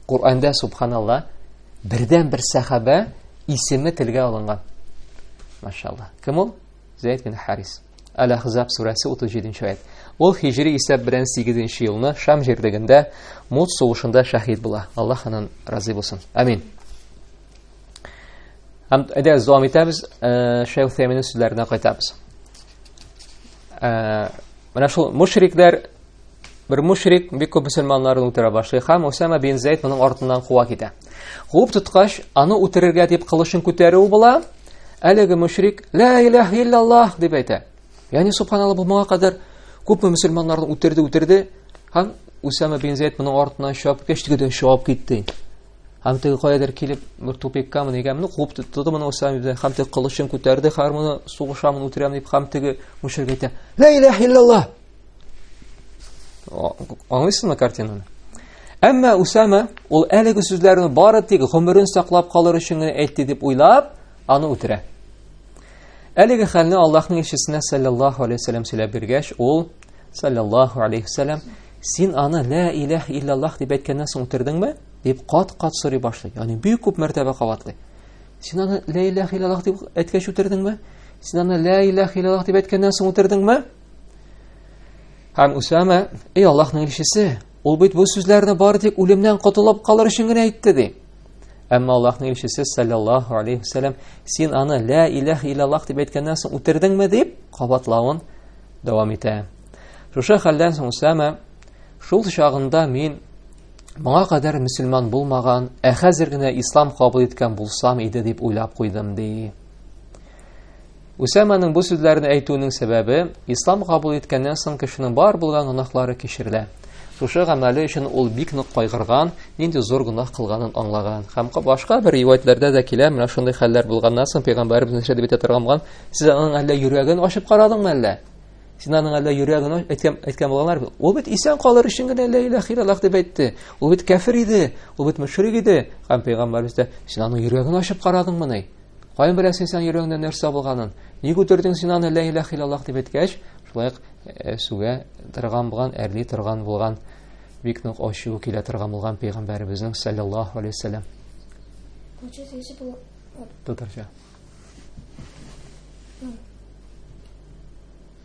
Коранда субханалла бердән бер сахаба исеме телгә алынган. Машалла. Кем ул? Зәйд бин Харис. Әл-Ахзаб сүрәсе 37-нче аят. Ул хижри исәп белән 8-нче елны Шам җирлегендә Мут сугышында шәһид була. Аллаһ аннан разый булсын. Амин. Һәм әдә зуам итәбез, э, Шәйх Фәминең сүзләренә кайтабыз. Ә, менә шул мушрикләр бер мушрик бик күп мөселманнарны үтерә башлый һәм Усама бин Зәйд моның артыннан куа китә. Куып тоткач, аны үтерергә дип кылычын күтәрү була. Әлеге мушрик ла илаһ иллаллаһ дип әйтә. Яни субханаллаһ бу моңа кадәр күпме мөселманнарны үтерде, үтерде һәм Усама бин Зәйд моның артыннан чыгып кешкәч, тегедән чыгып китте. Һәм теге каядыр килеп, бер тупиккамы, нигәме, ну, куып тотты моны Усама ибн Һәм теге кылычын күтәрде, хәзер моны сугышамын, үтерәм дип, һәм теге мөшрик әйтә, «Ла илаһ иллаллаһ!» Аңлыйсыңмы картинаны? Әмма Усама ул әлеге сүзләрне бары тик гомерен саклап калыр өчен генә әйтте дип уйлап, аны үтерә. Әлеге хәлне Аллаһның илчесенә саллаллаһу алейһи ва саллям сөйләп биргәч, ул саллаллаху алейхи вәсәләм син аны лә иләһ иллаллах дип әйткәннән соң үтердеңме дип кат кат сорый башлый ягъни бик күп мәртәбә кабатлый син аны лә иләһ иллаллах дип әйткәч үтердеңме син аны лә иләһ иллаллах дип әйткәннән соң үтердеңме һәм усама эй аллаһның илчесе ул бит бу сүзләрне бары тик үлемнән котылып калыр өчен генә әйтте ди әмма аллаһның илчесе саллаллаху алейхи вәсәләм син аны лә иләһ иллаллах дип әйткәннән соң үтердеңме дип кабатлавын дәвам итә. Шушы хәлдән соң Усама, шул чагында мин моңа кадәр мөселман булмаган, ә хәзер генә ислам кабул иткән булсам иде дип уйлап куйдым, ди. Усаманың бу сүзләрен әйтүенең сәбәбе, ислам кабул иткәннән соң кешенең бар булган гөнаһлары кичерелә. Шушы гамәле өчен ул бик нык кайгырган, нинди зур гөнаһ кылганын аңлаган. Һәм башка бер риваятьләрдә дә килә, менә шундый хәлләр булганнан соң пәйгамбәребез нәрсә дип әйтә торган булган? Сез аның әллә йөрәген ачып карадыңмы әллә? Син аның әллә йөрәген әйткән әйткән булганнар бит. Ул бит исән калыр өчен генә лә илаһ илаллах дип әйтте. Ул бит кәфир иде, ул бит мөшрик иде. Һәм пәйгамбәребез дә син аның йөрәген ачып карадыңмыни? Каян беләсең син йөрәгеңдә нәрсә булганын? Ник үтердең син аны лә илаһ иллаллаһ дип әйткәч, шулай э, сүгә торган булган, әрли торган булган, бик нык ачу килә торган булган пәйгамбәребезнең саллаллаһу алейһи вәсәлләм. Куча сөйше бу. Татарча.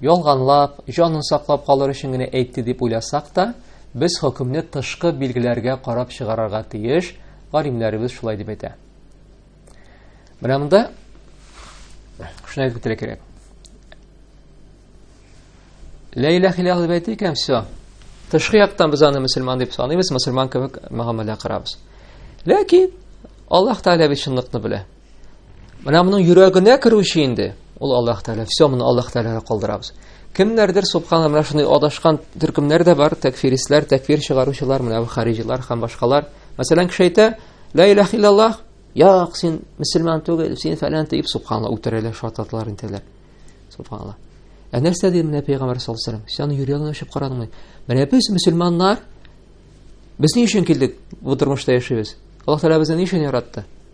Ялганлап, җанын саклап калыр өчен генә әйтте дип уйласак та, без хөкемне тышкы билгеләргә карап чыгарырга тиеш, галимнәребез шулай дип әйтә. Менә монда шуны әйтеп үтәргә кирәк. Ла илаһ илаһ дип әйтик һәм все. Тышкы яктан без аны мөселман дип саныйбыз, мөселман кебек мөгамәлә карабыз. Ләкин Аллаһ Тәгалә бит чынлыкны белә. Менә моның йөрәгенә керүче инде, ул Аллаһ Тәгалә, все моны Аллаһ Тәгаләгә калдырабыз. Кемнәрдер субхана менә шундый адашкан төркемнәр дә бар, тәкфиристләр, тәкфир чыгаручылар, менә бу хариҗилар һәм башкалар. Мәсәлән, кеше әйтә, "Ла илаһ иллаллаһ", "Як, син мусульман түгел, син фәлән" дип субхана үтерәләр, шататлар интеләр. Субхана. Ә нәрсә ди менә пәйгамбер саллаллаһу алейһи ва саллям? Сән йөрәгеңне ачып карадыңмы? Менә без мусульманнар, без ни өчен килдек бу тормышта яшибез? Аллаһ Тәгалә безне ни өчен яратты?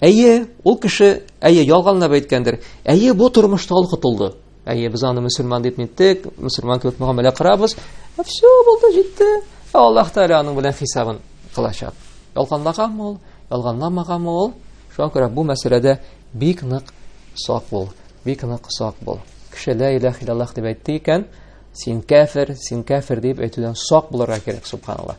Әйе, ул кеше, әйе, ялганлап әйткәндер. Әйе, бу тормышта ул котылды. Әйе, без аны мусульман дип ниттек, мусульман кебек мөгамәлә кырабыз. Ә все, булды, җитте. Ә Аллаһ Тәгалә аның белән хисабын кылачак. Ялганлаганмы ул? Ялганламаганмы ул? Шуңа күрә бу мәсьәләдә бик нык сак бул. Бик нык сак бул. Кеше ла илаһ иллаллаһ дип әйтте икән, син кафир, син кафир дип әйтүдән сак булырга кирәк, субханаллаһ.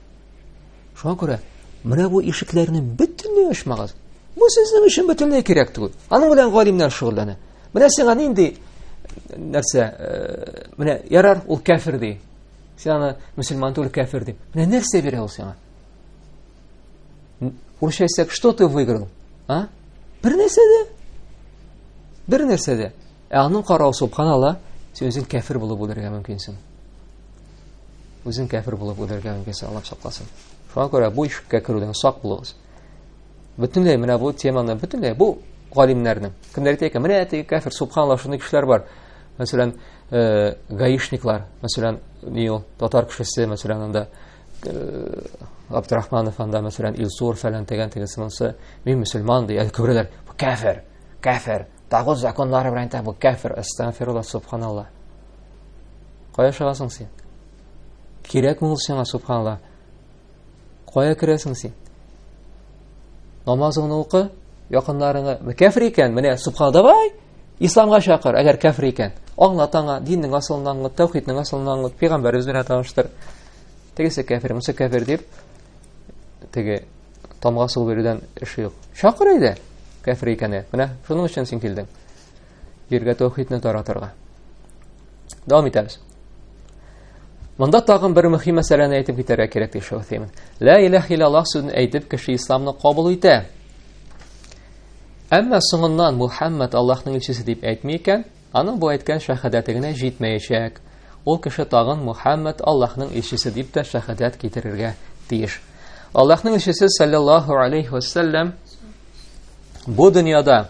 Шуңа күрә менә бу ишекләрне бөтенләй ачмагыз. Бу сезнең өчен бөтенләй кирәк түгел. Аның белән галимнәр шөгыльләнә. Менә сиңа нинди нәрсә, э, менә ярар, ул кәфир ди. Син аны мусульман түгел кәфир ди. Менә нәрсә бирә ул сиңа? Урысча әйтсәк, что ты выиграл? А? Бер нәрсә дә. Бер нәрсә дә. Ә аның карау субханалла, син үзең кәфир булып үлергә мөмкинсең. Үзең кәфир булып үлергә мөмкинсең, Аллаһ сакласын. Шуңа күрә бу ишеккә керүдән сак булыгыз. Бөтенләй менә бу теманы бөтенләй бу галимнәрнең. Кемнәр әйтә икән, менә теге кәфир, субханалла, шундый кешеләр бар. Мәсәлән, э, гаишниклар, мәсәлән, ни ул, татар кешесе, мәсәлән, анда э, Абдрахманов анда, мәсәлән, Илсур фәлән тегән тегесе монсы, мин мөселман ди, әле күрәләр, кәфир, кәфир. Тагут законнары белән әйтә, бу кәфер, әстәгфирулла, субханалла. Кая чыгасың син? Кирәкме ул сиңа, субханалла? Кая керәсең син? Намазыңны укы, якыннарыңа, кәфер икән, менә субханалла, давай, исламга чакыр, әгәр кәфер икән. Аңлат аңа, диннең асылын аңлат, тәүхиднең асылын аңлат, пәйгамбәребез белән таныштыр. Тегесе кәфер, монысы кәфер дип, теге Тамга су бирүдән эше юк. Чакыр әйдә, кәфер икәне. Менә шуның өчен син килдең. Җиргә тәүхидне таратырга. Дәвам итәбез. Монда тагын бер мөһим мәсьәләне әйтеп китәргә кирәк ди Шәү Теймин. Лә иләһ иллаллаһ сүзен әйтеп, кеше исламны кабул итә. Әмма соңыннан Мухаммад Аллаһның илчесе дип әйтми икән, Аның бу әйткән шәһадәте генә җитмәячәк. Ул кеше тагын Мухаммад Аллаһның илчесе дип тә шәһадәт китерергә тиеш. Аллаһның илчесе саллаллаһу алейхи ва саллям бу дөньяда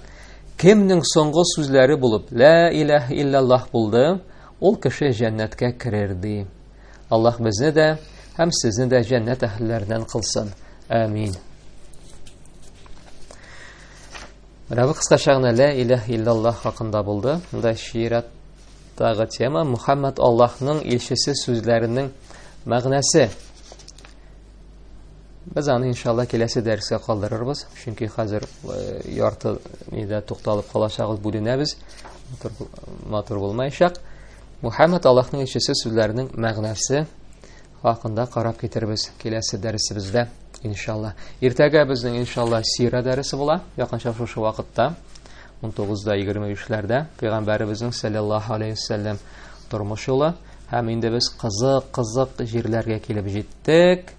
кемнең соңгы сүзләре булып лә иләһ иллаллаһ булды, ул кеше җәннәткә керер ди. Аллаһ безне дә һәм сезне дә җәннәт әһелләреннән кылсын. Амин. Менә бу кыскача гына лә иләһ иллаллаһ хакында булды. Монда шиираттагы тема Мухаммад Аллаһның илчесе сүзләренең мәгънәсе. Без аны иншалла киләсе дәрескә калдырырбыз, чөнки хәзер э, ярты нидә тукталып калачагыз, бүленәбез. Матур, матур булмаячак. Мухаммад Аллаһның илчесе сүзләренең мәгънәсе хакында карап китербез киләсе дәресебездә, иншалла. Иртәгә безнең иншалла сира дәресе була, якынча шушы вакытта, 19:23-ләрдә пәйгамбәребезнең саллаллаһу алейхи вассалам тормыш юлы һәм инде без кызык, кызык җирләргә килеп җиттек.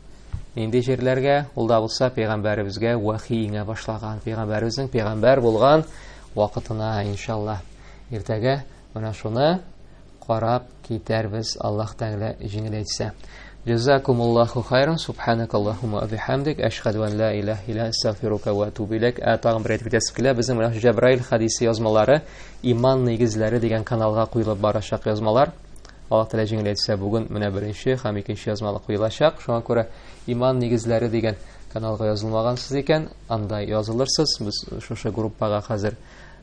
Нинди җирләргә? Ул да булса пәйгамбәребезгә вахи иңә башлаган, пәйгамбәребезнең пәйгамбәр булган вакытына иншалла. Иртәгә менә шуны карап китәрбез Аллаһ Тәгалә җиңеләйтсә. Джазакумуллаху хайран, субханакаллахума ва бихамдик, ашхаду ан ла илаха илля астагфирука ва атубу илек. Ә тагын бер әйтеп китәсем килә, безнең менә Җәбраил хадисе язмалары Иман нигезләре дигән каналга куелып барачак язмалар. Аллаһ Тәгалә җиңеләйтсә, бүген менә беренче һәм икенче язмалы куелачак. Шуңа күрә Иман нигезләре дигән каналга язылмагансыз икән, анда язылырсыз. Без шушы группага хәзер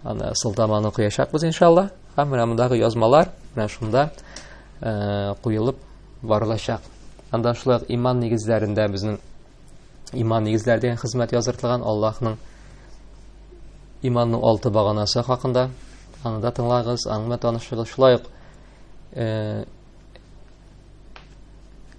аны сылтаманы куячакбыз иншалла. Һәм менә мондагы язмалар менә шунда э, куелып барылачак. Анда шулай иман нигезләрендә безнең иман нигезләре дигән хезмәт языртылган Аллаһның иманның алты баганасы хакында анда тыңлагыз, аңлы танышыгыз. Шулай ук э,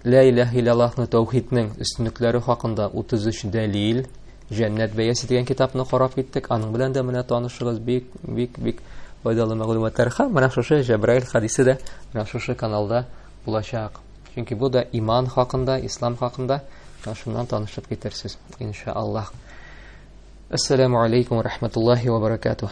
Лә иләһ илаллаһны тәүхиднең өстенлекләре хакында 33 дәлил Җәннәт бәясе дигән китапны карап киттек. Аның белән дә менә танышыгыз бик бик бик файдалы мәгълүматлар. Һәм менә шушы Җәбраил хадисе дә менә шушы каналда булачак. Чөнки бу да иман хакында, ислам хакында. Шуннан танышып китерсез, иншаллаһ. Ассаламу алейкум ва рахматуллахи ва баракатуһ.